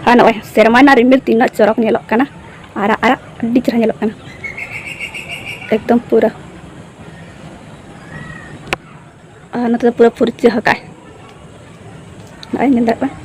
ᱟᱨ ᱱᱚᱜᱼᱚᱭ ᱥᱮᱨᱢᱟ ᱨᱮᱱᱟᱜ ᱨᱤᱢᱤᱞ ᱛᱤᱱᱟᱹᱜ ᱪᱚᱨᱚᱠ ᱧᱮᱞᱚᱜ ᱠᱟᱱᱟ ᱟᱨᱟᱜ ᱟᱨᱟᱜ ᱟᱹᱰᱤ ᱪᱮᱦᱨᱟ ᱧᱮᱞᱚᱜ ᱠᱟᱱᱟ ᱮᱠᱫᱚᱢ ᱯᱩᱨᱟᱹ ᱟᱨ ᱱᱚᱛᱮ ᱫᱚ ᱯᱩᱨᱟᱹ ᱯᱷᱩᱨᱪᱟᱹ ᱟᱠᱟᱫ ᱱᱚᱜᱼᱚᱭ ᱧᱮᱞ ᱫᱟᱲᱮᱭᱟᱜ ᱠᱟᱱᱟ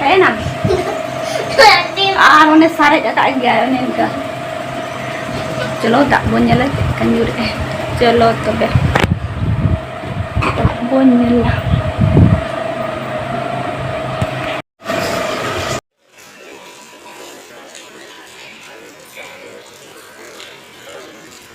ᱦᱮᱸ ᱱᱟᱢ ᱟᱨ ᱚᱱᱮ ᱥᱟᱨᱮᱡ ᱟᱠᱟᱫ ᱜᱮᱭᱟ ᱚᱱᱮ ᱤᱱᱠᱟᱹ ᱪᱚᱞᱚ ᱫᱟᱜ ᱵᱚᱱ ᱧᱮᱞᱟ ᱪᱮᱫ ᱞᱮᱠᱟ ᱧᱩᱨᱮᱜᱼᱟ ᱪᱚᱞᱚ ᱛᱚᱵᱮ ᱫᱟᱜ ᱵᱚᱱ ᱧᱮᱞᱟ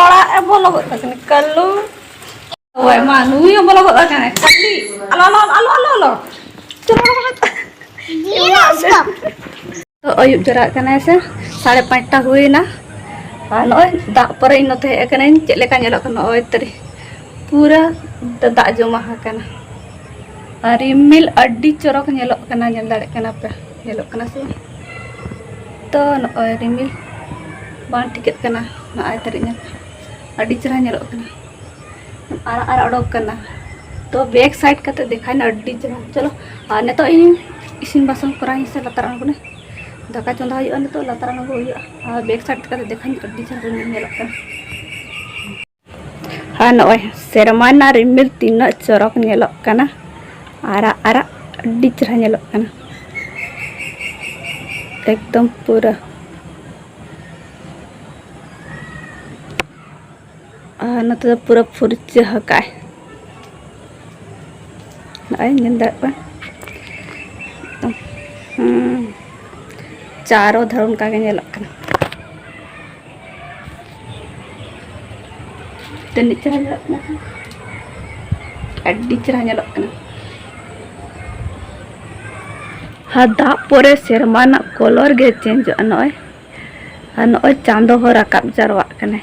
ᱚᱲᱟᱜ ᱮ ᱵᱚᱞᱚ ᱜᱚᱫ ᱠᱟᱱᱟ ᱠᱟᱞᱩ ᱳᱭ ᱢᱟ ᱱᱩᱭ ᱦᱚᱸ ᱵᱚᱞᱚ ᱜᱚᱫ ᱠᱟᱱᱟ ᱠᱟᱞᱤ ᱟᱞᱚ ᱟᱞᱚ ᱟᱞᱚ ᱟᱞᱚ ᱟᱞᱚ ᱛᱚ ᱟᱹᱭᱩᱵ ᱡᱚᱨᱟᱜ ᱠᱟᱱᱟᱭ ᱥᱮ ᱥᱟᱲᱮ ᱯᱟᱸᱪᱴᱟ ᱦᱩᱭᱱᱟ ᱟᱨ ᱱᱚᱜᱼᱚᱭ ᱫᱟᱜ ᱯᱚᱨᱮ ᱤᱧ ᱱᱚᱛᱮ ᱦᱮᱡ ᱟᱠᱟᱱᱟᱹᱧ ᱪᱮᱫ ᱞᱮᱠᱟ ᱧᱮᱞᱚᱜ ᱠᱟᱱᱟ ᱱᱚᱜᱼᱚᱭ ᱛᱟᱹᱨᱤ ᱯᱩᱨᱟᱹ ᱫᱟᱜ ᱡᱚᱢᱟ ᱟᱠᱟᱱᱟ ᱟᱨ ᱨᱤᱢᱤᱞ ᱟᱹᱰᱤ ᱪᱚᱨᱚᱠ ᱧᱮᱞᱚᱜ ᱠᱟᱱᱟ ᱧᱮᱞ ᱫᱟᱲᱮᱭᱟᱜ ᱠᱟᱱᱟ ᱯᱮ ᱧᱮᱞᱚᱜ ᱠᱟᱱᱟ ᱥᱮ ᱛᱚ ᱱᱚᱜᱼᱚᱭ ᱨᱤᱢᱤᱞ ᱵᱟᱝ ᱴᱷᱤᱠᱟᱹᱜ ᱠᱟᱱᱟ ᱱᱚᱜᱼᱚᱭ ᱛᱟᱹᱨᱤᱡ ᱧᱮᱞ ᱟᱹᱰᱤ ᱪᱮᱦᱨᱟ ᱧᱮᱞᱚᱜ ᱠᱟᱱᱟ ᱟᱨᱟᱜ ᱟᱨᱟᱜ ᱚᱰᱚᱠ ᱠᱟᱱᱟ ᱛᱚ ᱵᱮᱠ ᱥᱟᱭᱤᱰ ᱠᱟᱛᱮ ᱫᱮᱠᱷᱟᱭᱱᱟ ᱟᱹᱰᱤ ᱪᱮᱦᱨᱟ ᱪᱚᱞᱚ ᱟᱨ ᱱᱤᱛᱚᱜ ᱤᱧ ᱤᱥᱤᱱ ᱵᱟᱥᱟᱝ ᱠᱚᱨᱟᱣ ᱤᱧ ᱥᱮ ᱞᱟᱛᱟᱨ ᱟᱬᱜᱚᱱᱟ ᱫᱟᱠᱟ ᱪᱚᱸᱫᱟ ᱦᱩᱭᱩᱜᱼᱟ ᱱᱤᱛᱚᱜ ᱞᱟᱛᱟᱨ ᱟᱬᱜᱚ ᱦᱩᱭᱩᱜᱼᱟ ᱟᱨ ᱵᱮᱠ ᱥᱟᱭᱤᱰ ᱠᱟᱛᱮ ᱫᱮᱠᱷᱟᱧ ᱟᱹᱰᱤ ᱪᱮᱦᱨᱟ ᱨᱤᱢᱤᱞ ᱧᱮᱞᱚᱜ ᱠᱟᱱᱟ ᱟᱨ ᱱᱚᱜᱼᱚᱭ ᱥᱮᱨᱢᱟ ᱨᱮᱱᱟᱜ ᱨᱤᱢᱤᱞ ᱛᱤᱱᱟᱹᱜ ᱪᱚᱨᱚᱠ ᱧᱮᱞᱚᱜ ᱠᱟᱱᱟ ᱟᱨᱟᱜ ᱟᱨᱟᱜ ᱟᱹᱰᱤ ᱪᱮᱦᱨᱟ ᱧᱮᱞᱚᱜ ᱠᱟᱱᱟ ᱮᱠᱫᱚᱢ ᱯᱩᱨᱟᱹ ᱟᱨ ᱱᱚᱛᱮ ᱫᱚ ᱯᱩᱨᱟᱹ ᱯᱷᱩᱨᱪᱟᱹ ᱟᱠᱟᱫᱼᱟᱭ ᱱᱚᱜᱼᱚᱭ ᱧᱮᱞ ᱫᱟᱲᱮᱭᱟᱜ ᱠᱟᱱᱟ ᱪᱟᱨᱚ ᱫᱷᱟᱨ ᱚᱱᱠᱟᱜᱮ ᱧᱮᱞᱚᱜ ᱠᱟᱱᱟ ᱛᱤᱱᱟᱹᱜ ᱪᱮᱦᱨᱟ ᱧᱮᱞᱚᱜ ᱠᱟᱱᱟ ᱟᱹᱰᱤ ᱪᱮᱦᱨᱟ ᱧᱮᱞᱚᱜ ᱠᱟᱱᱟ ᱟᱨ ᱫᱟᱜ ᱯᱚᱨᱮ ᱥᱮᱨᱢᱟ ᱨᱮᱱᱟᱜ ᱠᱚᱞᱚᱨ ᱜᱮ ᱪᱮᱧᱡᱚᱜᱼᱟ ᱱᱚᱜᱼᱚᱭ ᱟᱨ ᱱᱚᱜᱼᱚᱭ ᱪᱟᱸᱫᱚ ᱦᱚᱸ ᱨᱟᱠᱟᱵ ᱡᱟᱣᱨᱟᱜ ᱠᱟᱱᱟᱭ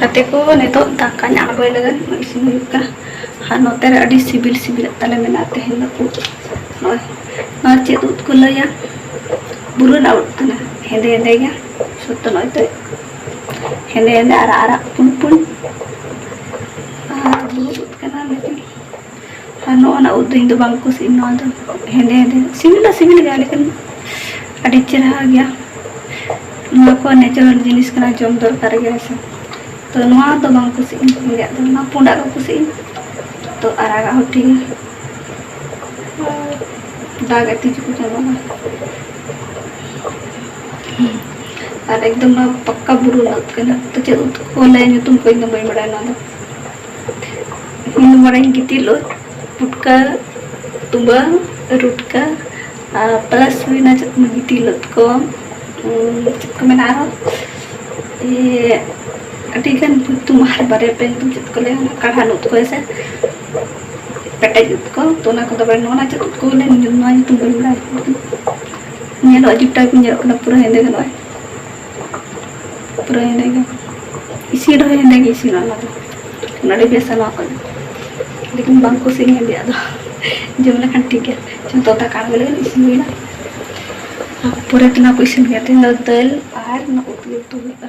ᱜᱟᱛᱮ ᱠᱚ ᱱᱤᱛᱚᱜ ᱫᱟᱠᱟᱧ ᱟᱬᱜᱚᱭ ᱞᱟᱹᱜᱤᱫ ᱤᱥᱤᱱ ᱦᱩᱭᱩᱜ ᱠᱟᱱᱟ ᱟᱨ ᱱᱚᱛᱮ ᱨᱮ ᱟᱹᱰᱤ ᱥᱤᱵᱤᱞ ᱥᱤᱵᱤᱞᱟᱜ ᱛᱟᱞᱮ ᱢᱮᱱᱟᱜᱼᱟ ᱛᱮᱦᱮᱧ ᱫᱚ ᱩᱫ ᱱᱚᱜᱼᱚᱭ ᱱᱚᱣᱟ ᱪᱮᱫ ᱩᱫ ᱠᱚ ᱞᱟᱹᱭᱟ ᱵᱩᱨᱩ ᱨᱮᱱᱟᱜ ᱩᱫ ᱠᱟᱱᱟ ᱦᱮᱸᱫᱮ ᱦᱮᱸᱫᱮ ᱜᱮ ᱥᱚᱛᱛᱚ ᱱᱚᱜᱼᱚᱭ ᱛᱚ ᱦᱮᱸᱫᱮ ᱦᱮᱸᱫᱮ ᱟᱨᱟᱜ ᱟᱨᱟᱜ ᱯᱩᱸᱰ ᱯᱩᱸᱰ ᱟᱨ ᱵᱩᱨᱩ ᱩᱫ ᱠᱟᱱᱟ ᱞᱮᱠᱤᱱ ᱟᱨ ᱱᱚᱜᱼᱚ ᱱᱟ ᱩᱫ ᱫᱚ ᱤᱧ ᱫᱚ ᱵᱟᱝ ᱠᱩᱥᱤᱜ ᱱᱚᱣᱟ ᱫᱚ ᱦᱮᱸᱫᱮ ᱦᱮᱸᱫᱮ ᱥᱤᱵᱤᱞ ᱫᱚ ᱥᱤᱵᱤᱞ ᱜᱮᱭᱟ ᱞᱮᱠᱤᱱ ᱟᱹᱰᱤ ᱪᱮᱨᱦᱟ ᱜᱮᱭᱟ ᱱᱚᱣᱟ ᱠᱚ ᱱᱮᱪᱟᱨᱟᱞ ᱡᱤᱱᱤᱥ ᱠᱟᱱᱟ ᱡᱚᱢ ᱫᱚᱨᱠᱟᱨ ᱜᱮ ᱦᱮᱸᱥᱮ ᱛᱚ ᱱᱚᱣᱟ ᱫᱚ ᱵᱟᱝ ᱠᱩᱥᱤᱜ ᱤᱧ ᱦᱮᱸᱫᱮᱭᱟᱜ ᱫᱚ ᱱᱚᱣᱟ ᱯᱩᱸᱰᱟᱜ ᱠᱚ ᱠᱩᱥᱤᱜ ᱤᱧ ᱛᱚ ᱟᱨᱟᱜᱟᱜ ᱦᱚᱸ ᱴᱷᱤᱠ ᱜᱮᱭᱟ ᱫᱟᱜ ᱮ ᱛᱤᱡᱩ ᱠᱚ ᱪᱟᱵᱟᱜᱼᱟ ᱟᱨ ᱮᱠᱫᱚᱢ ᱱᱚᱣᱟ ᱯᱟᱠᱠᱟ ᱵᱩᱨᱩ ᱨᱮᱱᱟᱜ ᱩᱫ ᱠᱟᱱᱟ ᱛᱚ ᱪᱮᱫ ᱩᱫ ᱠᱚ ᱞᱟᱹᱭᱟ ᱧᱩᱛᱩᱢ ᱠᱚ ᱤᱧ ᱫᱚ ᱵᱟᱹᱧ ᱵᱟᱲᱟᱭᱟ ᱱᱚᱣᱟ ᱫᱚ ᱤᱧ ᱢᱚᱱᱮᱧ ᱜᱤᱛᱤᱞ ᱩᱫ ᱯᱩᱴᱠᱟᱹ ᱛᱩᱵᱟᱹᱝ ᱨᱩᱴᱠᱟᱹ ᱯᱞᱟᱥ ᱦᱩᱭᱱᱟ ᱪᱮᱫ ᱠᱚ ᱜᱤᱛᱤᱞ ᱩᱫ ᱠᱚ ᱪᱮᱫ ᱠᱚ ᱢᱮᱱᱟ ᱟᱨᱦᱚᱸ ᱟᱹᱰᱤ ᱜᱟᱱ ᱧᱩᱛᱩᱢ ᱟᱨ ᱵᱟᱨᱭᱟ ᱯᱮ ᱧᱩᱛᱩᱢ ᱪᱮᱫ ᱠᱚ ᱞᱟᱹᱭᱟ ᱠᱟᱲᱦᱟᱱ ᱩᱫ ᱠᱚ ᱦᱮᱸᱥᱮ ᱯᱮᱴᱮᱡ ᱩᱫ ᱠᱚ ᱛᱚ ᱚᱱᱟ ᱠᱚᱫᱚ ᱵᱟᱲᱟᱭ ᱱᱚᱣᱟ ᱪᱮᱫ ᱩᱫ ᱠᱚ ᱵᱚᱞᱮ ᱱᱚᱣᱟ ᱧᱩᱛᱩᱢ ᱵᱟᱹᱧ ᱵᱟᱲᱟᱭᱟ ᱧᱮᱞᱚᱜ ᱡᱩᱴᱟ ᱠᱚ ᱧᱮᱞᱚᱜ ᱠᱟᱱᱟ ᱯᱩᱨᱟᱹ ᱦᱮᱸᱫᱮ ᱜᱮ ᱱᱚᱜᱼᱚᱭ ᱯᱩᱨᱟᱹ ᱦᱮᱸᱫᱮ ᱜᱮ ᱤᱥᱤᱱ ᱨᱮᱦᱚᱸ ᱦᱮᱸᱫᱮ ᱜᱮ ᱤᱥᱤᱱᱟ ᱚᱱᱟ ᱫᱚ ᱟᱹᱰᱤ ᱵᱮᱥᱟ ᱱᱚᱣᱟ ᱠᱚ ᱞᱮᱠᱤᱱ ᱵᱟᱝ ᱠᱩᱥᱤᱧ ᱦᱮᱸᱫᱮᱭᱟᱜ ᱫᱚ ᱡᱚᱢ ᱞᱮᱠᱷᱟᱱ ᱴᱷᱤᱠ ᱜᱮᱭᱟ ᱡᱚᱛᱚ ᱫᱟᱠᱟ ᱟᱬᱜᱚ ᱞᱮᱠᱷᱟᱱ ᱤᱥᱤᱱ ᱦᱩᱭᱱᱟ ᱯᱚᱨᱮ ᱛᱮ ᱱᱚᱣᱟ ᱠᱚ ᱤᱥᱤᱱ ᱦᱩᱭᱩᱜᱼᱟ ᱛᱮᱦᱮᱧ ᱫᱚ ᱫᱟᱹᱞ ᱟᱨ ᱱᱚᱣᱟ ᱩᱛᱩ ᱩᱛᱩ ᱦᱩᱭᱩᱜᱼᱟ